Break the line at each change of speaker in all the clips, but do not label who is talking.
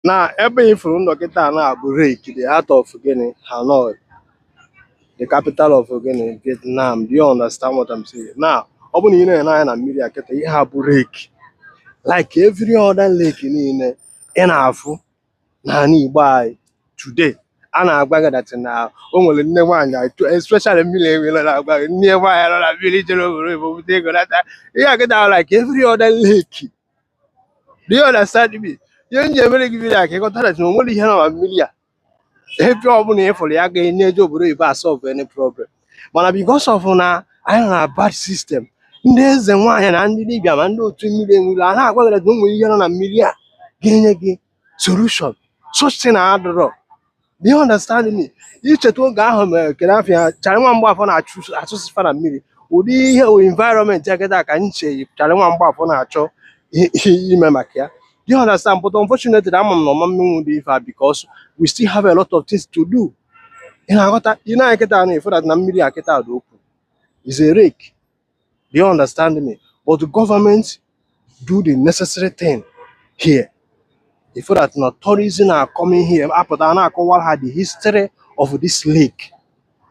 na ebe ị fụrụ m nọ kịta a na-abụ lake the heart of gịnị Hanoi the capital of gịnị Vietnam do you understand what I'm saying na ọ bụ na ị na-ene anya na mmiri a kịta ihe a bụ lake like every other lake niile ị na-afụ n'ala Igbo anyị today a na-agwa gị that na o nwere nne nwaanyị atụ especially mmiri enwere na-agwa gị nne nwaanyị nọ na mmiri jere obodo oyibo bute ego nata ihe a kịta like every other lake Do you understand me? Ihe m ji emere gị vidiyo a ka ị ghọta that na o nwere ihe nọ na mmiri a ebe ọbụla ị fụrụ ya ga na-eje obodo oyibo asolve any problem mana because of na anyị nọ na bad system ndị eze nwaanyị na ndị dibịa ma ndị otu mmiri enwere a na-agwa gị na o nwere ihe nọ na mmiri a ga-enye gị solution such thing adịrọ do you understand me ị cheta oge ahụ mere kere afịa Charlie Nwa Mgbafọ na-achụsị fa na mmiri ụdị ihe environment a kịta ka m che Charlie Nwa Mgbafọ na-achọ i- i- ime maka ya do you understand but unfortunately ama m na ọ ma emenwu ụdị ife a because we still have a lot of things to do ị na-aghọta ị ne anya kịta na ị fụ that na mmiri a kịta dị okwu is a lake Do you understand me? But the government do the necessary thing here. Ị fụ that na tourism are coming here, apụta a na-akọwara ha the history of this lake.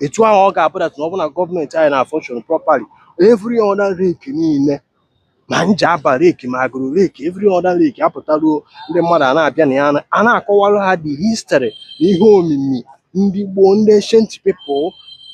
Etu ahụ ọ ga-abụ that na ọ bụ na gọọmenti anyị na-function properly. Every other lake niile ma Njaba lake ma Agụlụ lake every other lake apụtaruo ndị mmadụ a na-abịa na ya a na-akọwara ha the history na ihe omimi ndị gboo ndị ancient people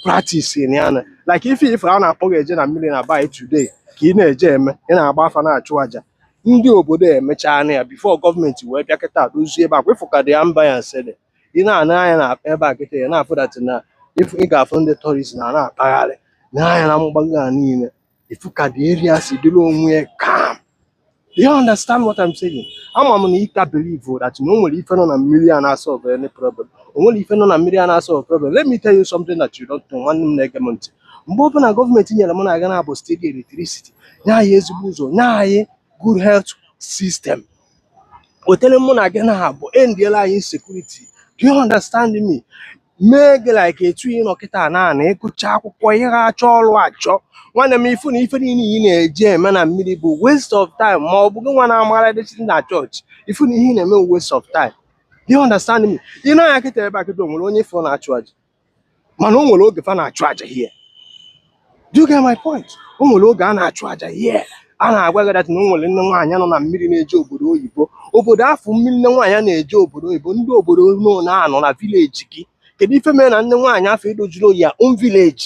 practice na ya like ife ife a na-akpọ gị eje na mmiri na be anyị today ka ị na-eje eme ị na-agba afa na-achụ aja ndị obodo emechaana ya before gọọmenti wee bịa kịta dozie ebe a kwa ị fụ ka the ambiance si dị ị na-ene anya na ebe a kịta ị na-afụ that na if ị ga-afụ ndị tourist na na-akpagharị na ya na mgbago a niile ị fụ ka the area si dịrị onwe ya calm you understand what I'm saying ama m na ị ka believe that na o nwere ife nọ na mmiri a na-asolve any problem o nwere ife nọ na mmiri a na-asolve problem let me tell you something that you don't know nwanne m na-ege m ntị mgbe ọbụla gọọmenti nyere mụ na gị na ha bụ steady electricity nye anyị ezigbo ụzọ nye anyị good health system wetara mụ na gị na ha bụ endiela anyị insecurity do you understand me mee gị like etu ị nọ kịta na na ị gụcha akwụkwọ ihe ha achọ ọrụ achọ nwanne m ị fụ na ife niile ị na-eje eme na mmiri bụ waste of time ma ọ bụ gị nwa na-amara dịchi na chọọchị ị fụ na ihe ị na-eme bụ waste of time do you understand me ị ne anya kịta ebe a kịta o nwere onye ị fụ na-achụ aja mana o nwere oge fa na-achụ aja here Do you get my point? O nwere oge a na-achụ aja here. a na-agwa gị that na o nwere nne nwaanyị nọ na mmiri na-eje obodo oyibo obodo afụ mmiri nne nwaanyị na-eje obodo oyibo ndị obodo unu na-anọ na village gị kedu ife mere na nne nwaanyị afụ edozirọ your own village